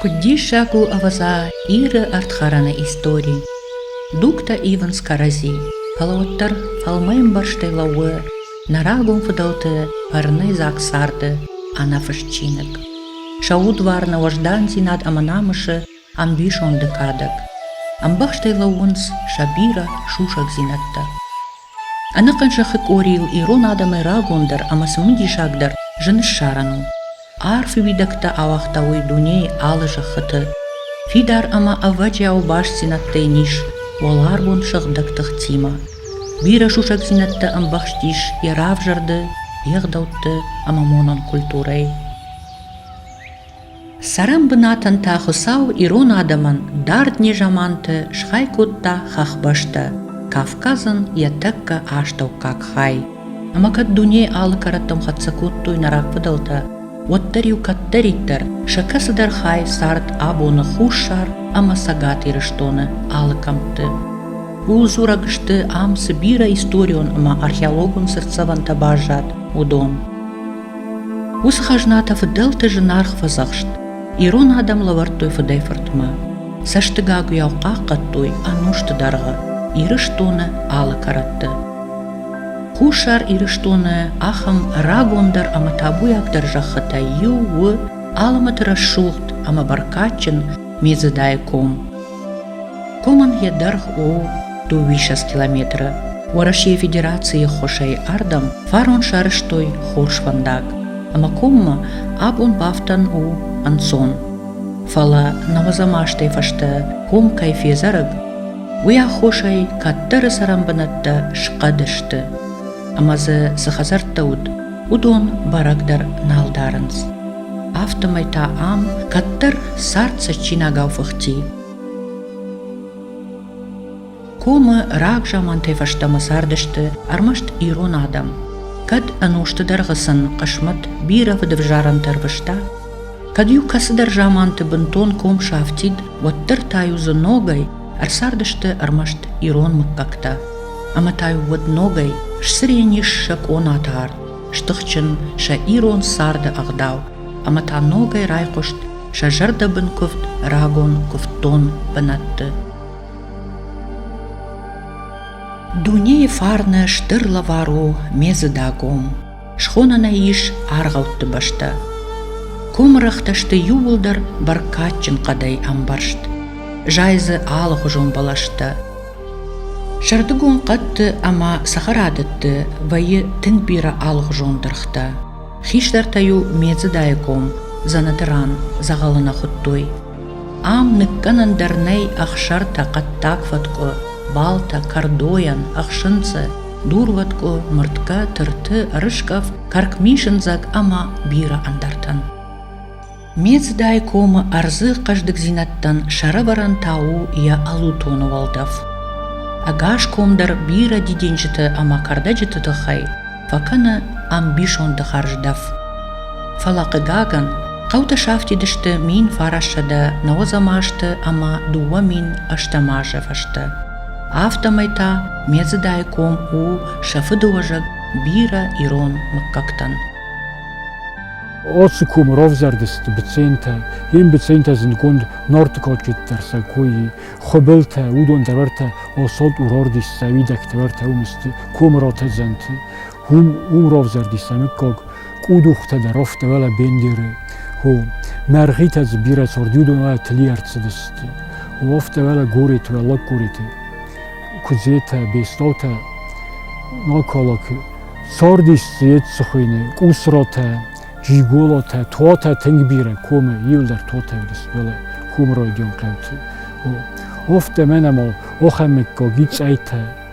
Куыд диссаг у ӕвӕдза Иры ӕрдхӕрӕны истори! Дугтӕ ивынц кӕрӕдзи, фӕлӕ уӕддӕр фӕлмӕмбӕрзтӕй лӕууы нӕ рагон фыдӕлты фӕрнӕй дзаг царды ӕнӕфыст чиныг. Сӕ удвар нӕ уӕздандзинад ӕмӕ намысы ӕмбисонды кадӕг. Ӕмбӕхстӕй лӕууынц сӕ бирӕ сусӕгдзинӕдтӕ. Ӕнӕхъӕн сӕхи къорийыл ирон адӕмӕй рагондӕр ӕмӕ сын уый диссагдӕр зын ссарӕн у. Арф уидӕгтӕ ауагъта уый дунейы алы зӕххыты. Фидар ӕмӕ ӕвӕджиау бастдзинӕдтӕ йын ис уӕларвон сыгъдӕг тыхтимӕ. Бирӕ сусӕгдзинӕдтӕ ӕмбӕхстис йӕ равзӕрды, йе гъдӕутты ӕмӕ монон культурӕйы. Цӕрӕн бынатӕн та Хуыцау ирон адӕмӕн дард незаманты схай кодта хӕхбӕстӕ Кавказӕн йӕ тӕккӕ астӕуккаг хай. Ӕмӕ кӕд дунейы алы кӕрӕттӕм хӕццӕ кодтой нӕ рагфыдӕлтӕ, уӕддӕр-иу кӕддӕриддӕр сӕ кӕцыдӕр хай цард абоны Хуссар ӕмӕ Цӕгат Ирыстоны алы кӕмтты. Ууыл дзурӕг сты, ам цы бирӕ историон ӕмӕ археологон цыртдзӕвӕнтӕ баззад, уыдон. Уыцы хӕзнатӕ фыдӕлты зынаргъ фӕдзӕхст. Ирон адӕм лӕвӕрдтой фыдӕй фыртмӕ. Цӕстыгагуыйау хъахъхъӕдтой ӕнусты дӕргъы Ирыстоны алы кӕрӕтты. Хуссар Ирыстоны ахӕм рагондӕр ӕмӕ табуйагдӕр зӕххытӕй иу у Алымыты рӕсугъд ӕмӕ бӕркадджын Медзыдайы ком. Хъумын йӕ дӕргъ у дыууиссӕдз километры. Уӕрӕсейы Федерацийы ххуысӕй ардӕм фарон сарызтой хорз фӕндаг, ӕмӕ коммӕ абон бафтӕн у ӕнцон. Фӕлӕ науӕдзӕм азтӕй фӕстӕ ком кӕй фезӕрыг, уый аххосӕй кӕддӕры цӕрӕнбынӕттӕ схъӕд сты. Ӕмӕ дзы цы хӕдзӕрттӕ уыд, уыдон бӕрӕгдӕр нал дарынц. Афтӕмӕй та ам кӕддӕр цард цӕджджинагау фыхти. Комы раг замантӕй фӕстӕмӕ цардысты ӕрмӕст ирон адӕм. Кӕд ӕнусты дӕргъы сын хъысмӕт бирӕ фыдӕвзарӕнтӕ ӕрвыста, кӕд иу кӕцыдӕр заманты бынтон ком сафтид, уӕддӕр та-иу дзы ногӕй ӕрцардысты ӕрмӕст ирон мыггӕгтӕ. ӕмӕ та уӕд ногӕй сцырен ис сӕ къонаты арт, стыхджын сӕ ирон царды ӕгъдау, ӕмӕ та ногӕй райхъуыст сӕ зӕрдӕбын куывд рагон куывддон бынӕтты. Дунейы фарны стыр лӕвар у Медзыдагом. Схонӕн ӕй ис аргъӕутты бӕстӕ. Комы рӕгътӕ сты иууылдӕр бӕркадджын хъӕдӕй ӕмбӕрзт, зайы дзы алыгъуызон бӕлӕстӕ. Сӕрдыгон хъӕдты ӕмӕ цӕхӕрадӕтты вӕййы тынг бирӕ алыгъуызон дыргътӕ. Хистӕртӕ-иу Медзыдайы ком, Дзӕнӕты ран дзӕгъӕлы нӕ хуыдтой. Ам ныккӕнӕн дӕр нӕй ӕхсӕртӕ, хъӕддаг фӕткъуы, балтӕ, кӕрдойӕн, ӕхсынцъы. дурвӕткъуы, мыртгӕ, тырты, ӕрыскъӕфт, кӕркмисындзӕг ӕмӕ бирӕ ӕндӕртӕн. Мецдай комы ӕрдзы хъӕздыгдзинӕдтӕн сӕрӕвӕрӕн та у йӕ ӕлутоны уӕлдӕф. Ӕгас ком дӕр бирӕ дидинджыты ӕмӕ кӕрдӕджыты тыххӕй фӕкӕны ӕмбисонды хӕрздӕф. Фӕлӕ хъыгагӕн, хъӕутӕ сафтидысты мин фарассӕдӕ нӕуӕдзӕм азты ӕмӕ дыууӕ мин ӕстӕм азы фӕстӕ. афтӕмӕй та Медзыдайы ком у сӕ фыдыуӕзӕг бирӕ ирон мыггӕгтӕн. Оцы комы равзӕрды сты быцентӕ. Йе мбыцентӕ зындгонд Норты кадджытдӕр сӕ кой, хуыбылтӕ, уыдон тӕвартӕ Осот, Урордис, Сауидӕг тӕвартӕ уым сты комы ротӕдзӕнты. Ум равзардис ӕнаккаг къудухтӕ дӕр рафтауӕла бендери, хо мӕргъитӕ дзы бирӕ цардюдонӕ тли ӕрцыдысты. Уафтауӕла горӕты уӕ лӕггорӕты куыдзетӕ, бестаутӕ накалак цардис еци хуйне къусратӕ, джиголатӕ, туатӕ тынг бирӕ комы иулдӕр туатӕ уыдис уӕле хумы райдион хъӕуты. Офтӕ мӕнӕ ма ахӕмыккаг и цъайтӕ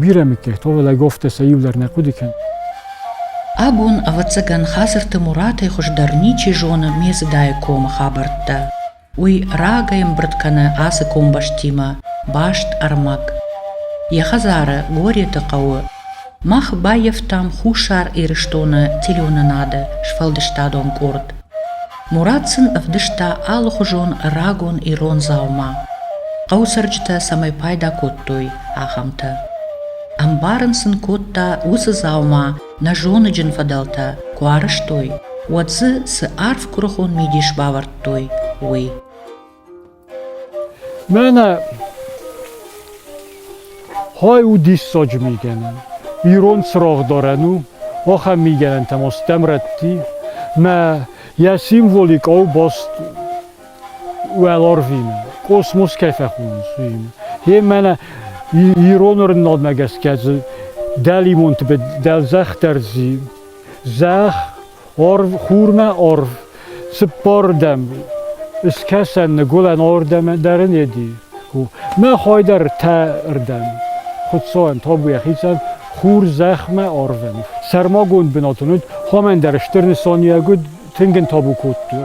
бирӕ миккӕй tovulӕй гофтесӕ иу дӕр нӕ хъуыды кӕн. Абон, ӕвӕццӕгӕн, Хацырты Муратӕй хуыздӕр ничи зоны Медзыдайы комы хабӕрттӕ. Уый рагӕй ӕмбырд кӕны ацы комбӕстимӕ, баст ӕрмӕг. Йӕ хӕдзары, Гореты хъӕуы. Мах баййӕфтам Хуссар Ирыстоны телеуынынады сфӕлдыстадон къорд. Мурат сын ӕвдыста алыхуызон рагон ирон дзаума, хъӕуы цӕрджытӕ цӕмӕй пайда кодтой, ахӕмтӕ. Ӕмбарын сын кодта, уыцы дзаума нӕ зоныджын фӕдӕлтӕ куы арӕзтой, уӕд дзы цы арф куырыхон мидис бавӕрдтой, уый. Мӕнӕ хай у диссаджы мигӕнӕн. Ирон цырагъдарӕн у, ахӕм мигӕнӕнтӕ ма стӕм рӕтти, мӕ йӕ символи къау баст уӕларвимӕ, космос кӕй фӕхонынц, уыимӕ. Гье мӕнӕ ирон рынадмӕ гӕсгӕ дзы дӕлимонты дӕлзӕх дӕр ззи, зӕхх Орв, хурмӕ орв, цыппордӕм, Ыскӕсӕн ныгуылӕн ордӕм дӕр ын еди. Мӕ хойдӕр тӕрдӕм, Хуцауӕн тобу ехицӕн, хур зӕхмӕ орвӕн. Сӕрмагонд бынат уыд, хомӕн дӕр стыр нысаниуӕг уыд, тынг ын тобу кодтой.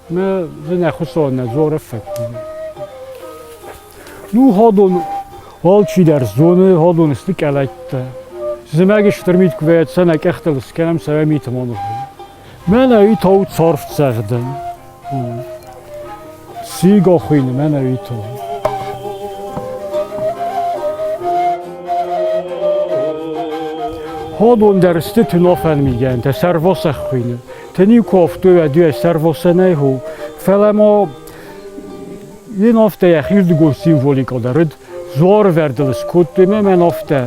Мы зынӕхуысон нӕ дзоры фыд. Ну хадон алчидӕр зоны хадон сты кӕлӕттӕ. Зымӕг стыр мит куывӕт сӕ нӕ къӕхтыл скӕнӕм сӕ мит мон. Мӕнӕ и тау царф цӕгъдын. Сигахуин мӕнӕ и тау. Хадон дӕр сты тынофӕн мигӕнтӕ сӕрвосахуин. Тени кофтой ӕдуӕстӕр восанӕй ху, фӕлӕ ма Ин офтӕ йӕхирдыгон символикыл дӕр уыд, зорвӕрдыл скодтой ме мӕн офтӕ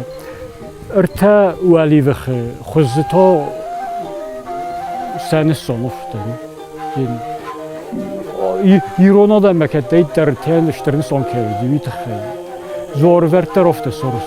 ӕртӕ уӕливыхы хуызы та сӕныссон офтӕ. Ирон адӕммӕ кӕддӕриддӕр тен стыр нысан кӕуы уый тыххӕй. Зорвӕрддӕр офтӕ сорс.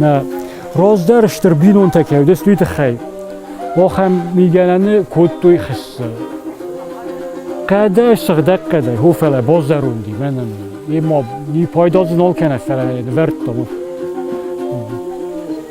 Нӕ раздӕр стыр бинонтӕ ке уыдис, уый тыххӕй ахӕм мигӕнӕны кодтой хӕссы. Хъӕдӕй, сыгъдӕг хъӕдӕй, хо фӕлӕ базӕронди, мӕнӕн. Е ма и пайда дзы нал кӕна, фӕлӕ нывӕрдта.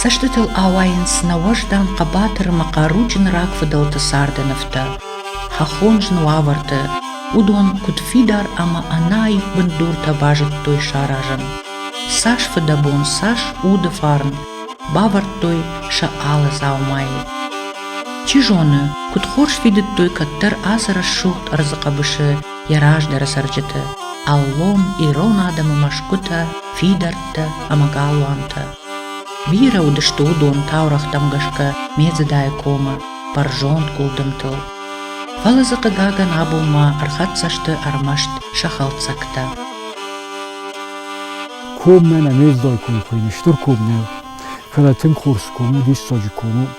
Цӕстытыл ауайынц нӕ уӕздан хъӕбатыр ӕмӕ хъаруджын рагфыдӕлты царды нывтӕ, хӕххон зын уавӕрты, уыдон куыд фидар ӕмӕ ӕнаив бындуртӕ базыдтой саразын. Цас фыдӕбон, цас уды фарн бавӕрдтой сӕ алы дзаумайы. Чи зоны, куыд хорз фидыдтой кӕддӕр азы рӕсугъд ӕрдзы хъӕбысы йӕ раздӕры цӕрджыты, аллон ирон адӕмы мӕсгуытӕ, фидӕрттӕ ӕмӕ галуантӕ. Бирӕ уыдысты уыдон таурӕгътӕм гӕсгӕ Медзыдайы комы бӕрзонд гуылдымтыл. Фӕлӕ дзы хъыгагӕн абон ма ӕрхӕццӕ сты ӕрмӕст сӕ хӕлцӕгтӕ. Ком мӕнӕ не дзой ком хуыйны, стыр ком нӕу. Фӕлӕ тынг хорз ком у, диссаджы ком у.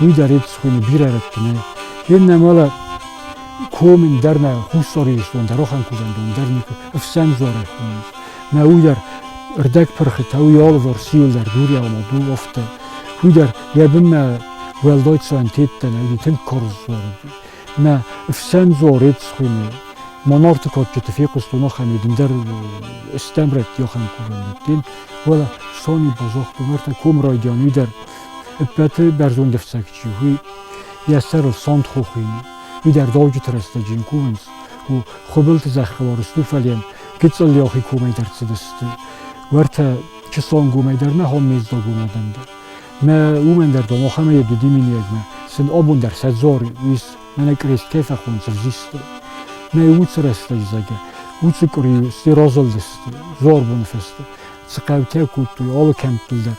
уи дӕр ефтисхуйни бирӕ раттунӕй ин нӕмӕлӕ комин дӕр нӕ хуссори естон дӕр охӕнкузӕндон дӕр никӕ ӕфсӕн дзорӕй хумӕнц нӕ уи дӕр ӕрдӕг пырхитӕ уи алывӕр сиулдӕр дуриаумӕ ду офтӕ уи дӕр е бунмӕ уӕлдойцо ӕнтеттӕнӕ уи тынг корз дзорӕй нӕ ӕфсӕн дзор ецхуйни ма нарти кадджыты фехъустон ахӕми дын дӕр стӕмрӕтти ахӕм курӕндӕттин уӕлӕ сони бозох бумартӕ ком райдиан уи дӕр ӕппӕты бӕрзонд ӕфцӕг чи у, йӕ сӕрыл сонт хохыйы. Уый дӕр дуджыты рӕстӕджы йын кувынц, у Хуыбылты зӕххыл Орыстуфален гыццыл йӕхи комӕй дӕр цыдысты. Уӕртӕ чысон гомӕй дӕр нӕ хон мездогон адӕм дӕр. Мӕ уымӕн дӕр дон ахӕм йӕ дуди миниегмӕ, сын абон дӕр сӕ дзоры, ис мӕнӕ кърескӕй фӕхон сывзисты. Мӕ уыцы рӕстӕджы зӕгӕ, уыцы къуыри сты розылдысты, зорбоны фӕсты цы хъӕутӕ кодтой, алы кӕмттыл дӕр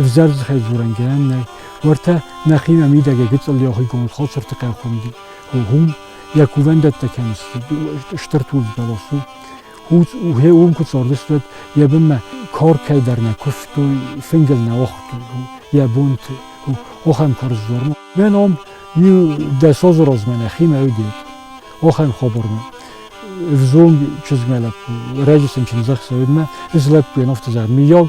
Ӕвзӕрзхӕй дзорӕн гӕнӕн нӕй, уӕртӕ нӕхи нӕмидӕгӕ гыцъылли охигонд Хосырты къӕххуndi гъум йӕ кувӕндӕттӕ кӕм стыр тулдзбӕлас у, уе уым куы цардыстут, йӕ бынмӕ коркӕй дӕр нӕ куывтой, фынгыл нӕ уыгътой йӕ бонты. Охӕн карз дзормы. Мӕ ном дӕсоз размӕ нӕхимӕ уыдет. Охӕн хабармӕ. Взонг чызгмӕ лӕппу, рӕджы сын чындзӕхсӕведмӕ, ыз лӕппу йын офтызар миййаг,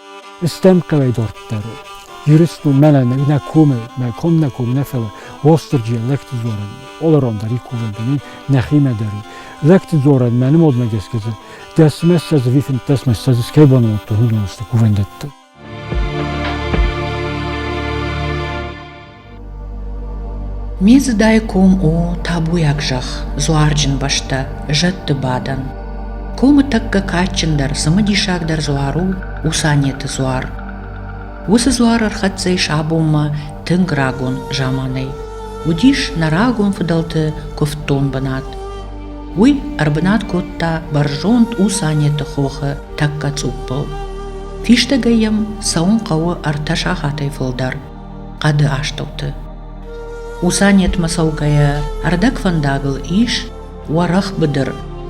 Стӕм кӕмӕй дарддӕр у. Ирыстон мӕнӕ нӕ комы, мӕ ком нӕ ком нӕ фӕлӕ Уастырджи лӕгты дзорӕн олорон дӕр и кувӕн дӕн нӕхимӕ дӕр и. Лӕгты дзорӕн мӕ нымодмӕ гӕсгӕ дзы дӕсмӕ ссӕдз вифынддӕсмӕ ссӕдз скӕй бонвӕндон уыцы кувӕндӕтты. Ме зыдӕй ком у табуйаг зӕхх, дзуарджын бӕстӕ, зӕдты бадӕн. Комы тӕккӕ кадджындӕр, цымыдисагдӕр дзуар у Усанеты дзуар. Уыцы дзуар ӕрхӕццӕ ис абонмӕ тынг рагон заманӕй. Уыдис нӕ рагон фыдӕлты куывддон бынат. Уый ӕрбынат кодта бӕрзонд Усанеты хохы тӕккӕ цъуппыл. Фистӕгӕй йӕм цӕуын хъӕуы ӕртӕ сахатӕй фылдӕр. хъӕды астӕуты. Усанетмӕ цӕугӕйӕ ӕрдӕгфӕндагыл ис уӕрӕх быдыр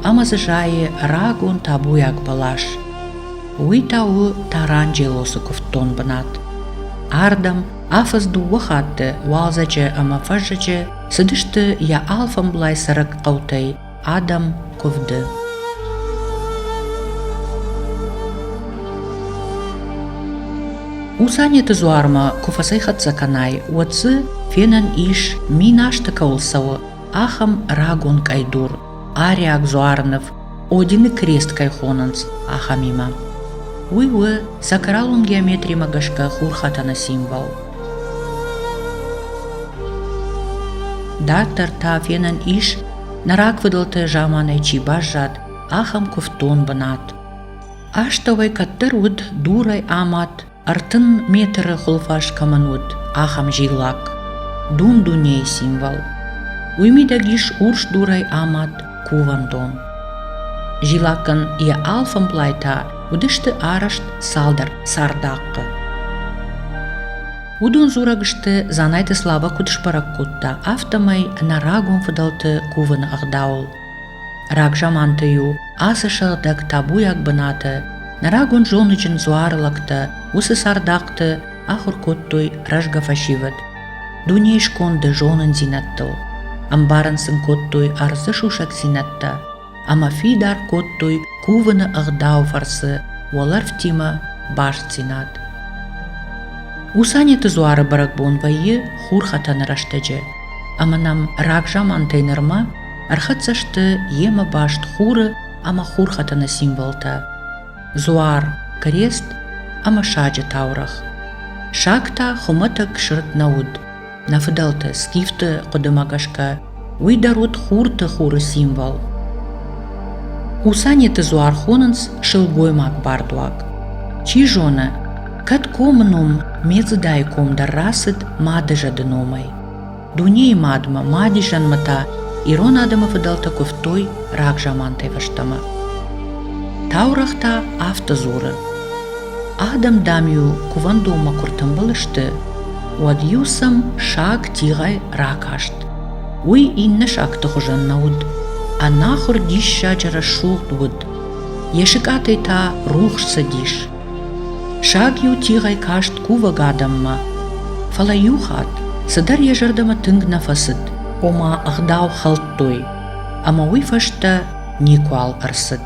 ӕмӕ дзы зайы рагон табуйаг бӕлас. Уый та у Таранджелосы куывддон бынат. Ардӕм афӕдз дыууӕ хатты уалдзӕджы ӕмӕ фӕззӕджы цыдысты йӕ алфӕмблай цӕрӕг хъӕутӕй Адӕм куывды. У Санеты дзуармӕ куы фӕцӕйхӕццӕ кӕнай, уӕд дзы фенӕн ис, мин азты кӕуыл цӕуы, ахӕм рагон къӕйдур, ариаг дзуарныв, Одины крест кӕй хонынц, ахӕмимӕ. Уый у сакралон геометримӕ гӕсгӕ хурхӕтӕны символ. Дарддӕр та фенӕн ис нӕ рагфыдӕлты заманӕй чи баззад, ахӕм куывддон бынат. Астӕуӕй кӕддӕр уыд дурӕй амад, ӕртын метры хуылфас кӕмӕн уыд, ахӕм зиллак. Дун-дунейы символ. Уый мидӕг ис урс дурӕй амад кувӕндон. Зиллакӕн йӕ алфӕмблай та уыдысты арӕзт цалдӕр цардахъхъы. Уыдон дзурӕг сты, Дзанайты Славӕ куыд сбӕрӕг кодта, афтӕмӕй нӕ рагон фыдӕлты кувыны ӕгъдауыл. Рагзаманты-иу ацы сыгъдӕг табуйаг бынаты нӕ рагон зоныджын дзуары лӕгтӕ уыцы цардахъты ахуыр кодтой рӕзгӕ фӕсивӕд, дунейы сконды зонындзинӕдтыл, ӕмбарын сын кодтой ӕрдзы сусӕгдзинӕдтӕ, ӕмӕ фидар кодтой кувыны ӕгъдау фӕрцы уӕлӕрвтимӕ бастдзинад. Усанеты дзуары бӕрӕгбон вӕййы хурхӕтӕны рӕстӕджы, ӕмӕ нӕм рагзамантӕй нырмӕ ӕрхӕццӕ сты йемӕ баст хуры ӕмӕ хурхӕтӕны символтӕ – дзуар, крест ӕмӕ саджы таурӕгъ. Саг та хуымӕтӕг сырд нӕ уыд, Нӕ фыдӕлты скифты хъуыдымӕ гӕсгӕ, уый дӕр уыд хурты хуры символ. Хусанеты дзуар хонынц сылгоймаг бардуаг. Чи зоны, кӕд комы ном Медзыдайы ком дӕр рацыд мады зӕды номӕй. Дунейы мадмӕ, мадизӕнмӕ та ирон адӕмы фыдӕлтӕ куывтой рагзамантӕй фӕстӕмӕ. Таурӕгъ та афтӕ дзуры: Адӕм, дам-иу кувӕндонмӕ куы ртымбыл сты, уӕд-иу сӕм саг тигъӕй ракаст. Уый иннӕ сагты хуызӕн нӕ уыд. Ӕнахуыр диссаджы рӕсугъд уыд. Йӕ сыкъатӕй та рухс цыдис. Саг-иу тигъӕй каст кувӕг адӕммӕ, фӕлӕ иу хатт цыдӕр йӕ зӕрдӕмӕ тынг нӕ фӕцыд, ома ӕгъдау хӕлдтой, ӕмӕ уый фӕстӕ никуал ӕрцыд.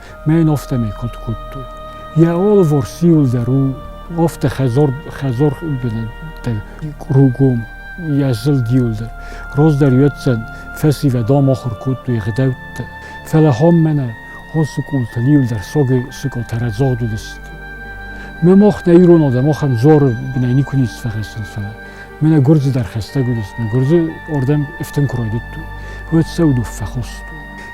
ме ин офтӕмӕй куд кодтой йӕ алыварс иуылдӕр у афтӕ хӕдзар хӕдзар бынӕттӕ кругом йӕ зылд иуылдӕр раздӕр йеддзӕн фӕсивӕд амахуыр кодтой гъдӕуттӕ фӕлӕ хам мӕнӕ ацы къултыл иуылдӕр согӕй сыкъатӕрӕдзагъд уыдысты ме мах нӕ ирон адӕм ахӕм дзары бынӕй никуы ницы фӕхӕцын фӕлӕ мӕнӕ гуырдзы дӕр хӕстӕг уыдис мӕ гуырдзы ардӕм ифтын куы райдыдтой уӕд сӕ удуф фӕхостой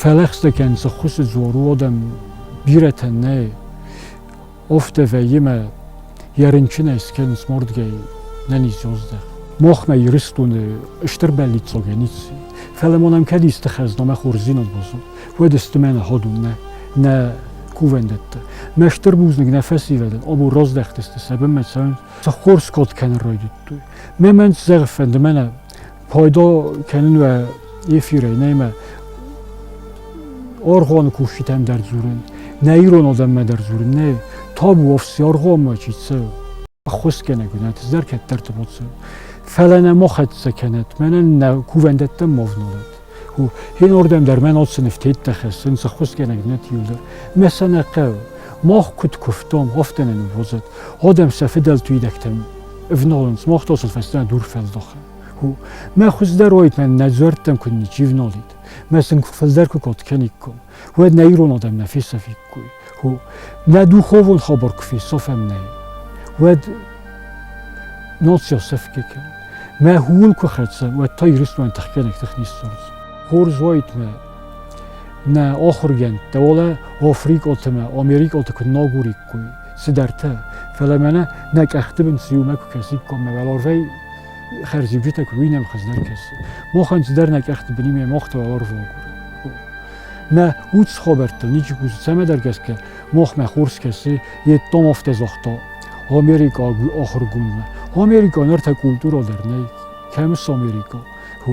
Фӕлӕхстӕкӕн цыххуысы дзор уодӕн бирӕтӕ нӕй. Офтӕ вӕййимӕ йӕ рынчынӕй скӕн смордгӕй нӕни зоздах. Мохмӕ Ирыстоны стыр бӕллиццогӕ ници. Фӕлӕ мон ам кӕд исты хӕзнамӕ хорздзинад базон, уӕд исты мӕнӕ ходун нӕ, нӕ кувӕндӕттӕ. Мӕ стыр бузныг нӕ фӕсивӕдӕн, об роздӕхтысты сӕбынмӕ цӕуын, цы хорз код кӕнын ройдыдтой. Ме мӕн зӕгъ фӕнды мӕнӕ пайдо кӕнун уа ефирӕй нӕмӕ оргъони куститӕн дӕр дзорун нӕ ирон адӕммӕ дӕр дзорун нӕ табу офси оргъонмӕ чи цӕ аххусгӕнӕ гунат зар кӕддӕрти боцӕ фӕлӕ нӕ мо хӕццӕ кӕнӕт мӕнӕн нӕ кувӕндӕттӕн мо вналат ин ордем дӕр мӕн оци нифтеттӕ хӕссун цаххусгӕнӕ гунат юлдӕр мӕ сӕ нӕ хъӕу мах куд куфтом офтӕнӕн возат одем сӕ фидӕлтуидӕгтӕн ивналунц мах тосал фӕстӕ дур фӕлдоха Мӕ хуздӕр уойтмӕ нӕ дзуӕрттӕн куд ничи вналдит, мӕ сын фулдӕр ку кӕниккон, уӕд нӕ ирон адӕм нӕ фесафиккой. Хо, нӕ духовон хабар ку фесафӕм нӕ, уӕд нал се сӕфке кӕн. Мӕ хун ку хӕццӕ, уӕдта Иристони тӕхгӕнӕг тӕхнисцард. Хорз уойтмӕ нӕ ахургӕндтӕ, уалӕ африкъалтӕмӕ, америкъалтӕ ку нагуриккой, цыдӕртӕ. Фӕлӕ мӕнӕ нӕ къӕхты бын цы иумӕ куы кӕсиккоммӕ, уал орвӕй хӕрзиуджытӕ куыд уый нӕм хуыздӕр кӕсы. Мохӕн цыдӕр нӕ къӕхты быни ме мохты уал орвогур. Нӕ ус хобӕрттыл ничи кусы, цӕмӕдӕр гӕсгӕ мохмӕ хур скӕсы йе домов тезохто Омерикъо охургунмӕ. Омерикъо ныр та культуралдӕр нӕй. Кӕм у Омерикъо? Ху.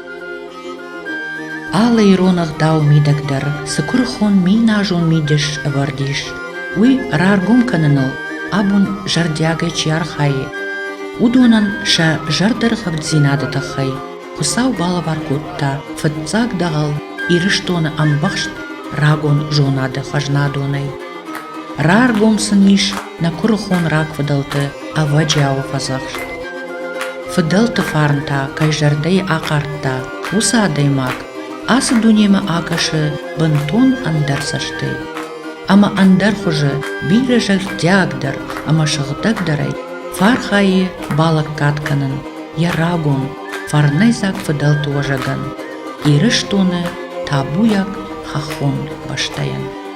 Алы ирон ӕгъдау мидӕгдӕр цы куырыхон минназон мидис ӕвӕрд ис, уый раргом кӕныныл абон зӕрдиагӕй чи архайы, уыдонӕн сӕ зӕрдӕргъӕвддзинады тыххӕй Хуыцау балӕвар кодта фыццаг дӕгъӕл Ирыстоны ӕмбӕхст рагон зонады хӕзнадонӕй. Раргом сын ис Нӕ куырыхон рагфыдӕлты ӕвӕджиауы фӕдзӕхст. Фыдӕлты фарн та кӕй зӕрдӕйы ахъардта, уыцы адӕймаг ацы дунемӕ акӕсы бынтон ӕндӕр цӕстӕй ӕмӕ ӕндӕр хуызы бирӕ зӕрдиагдӕр ӕмӕ сыгъдӕгдӕрӕй фархайы балӕггад кӕнын йӕ рагон фӕрнӕйдзаг фыдӕлты уӕзӕгӕн, Ирыстоны табуйаг хӕххон бӕстӕйӕн.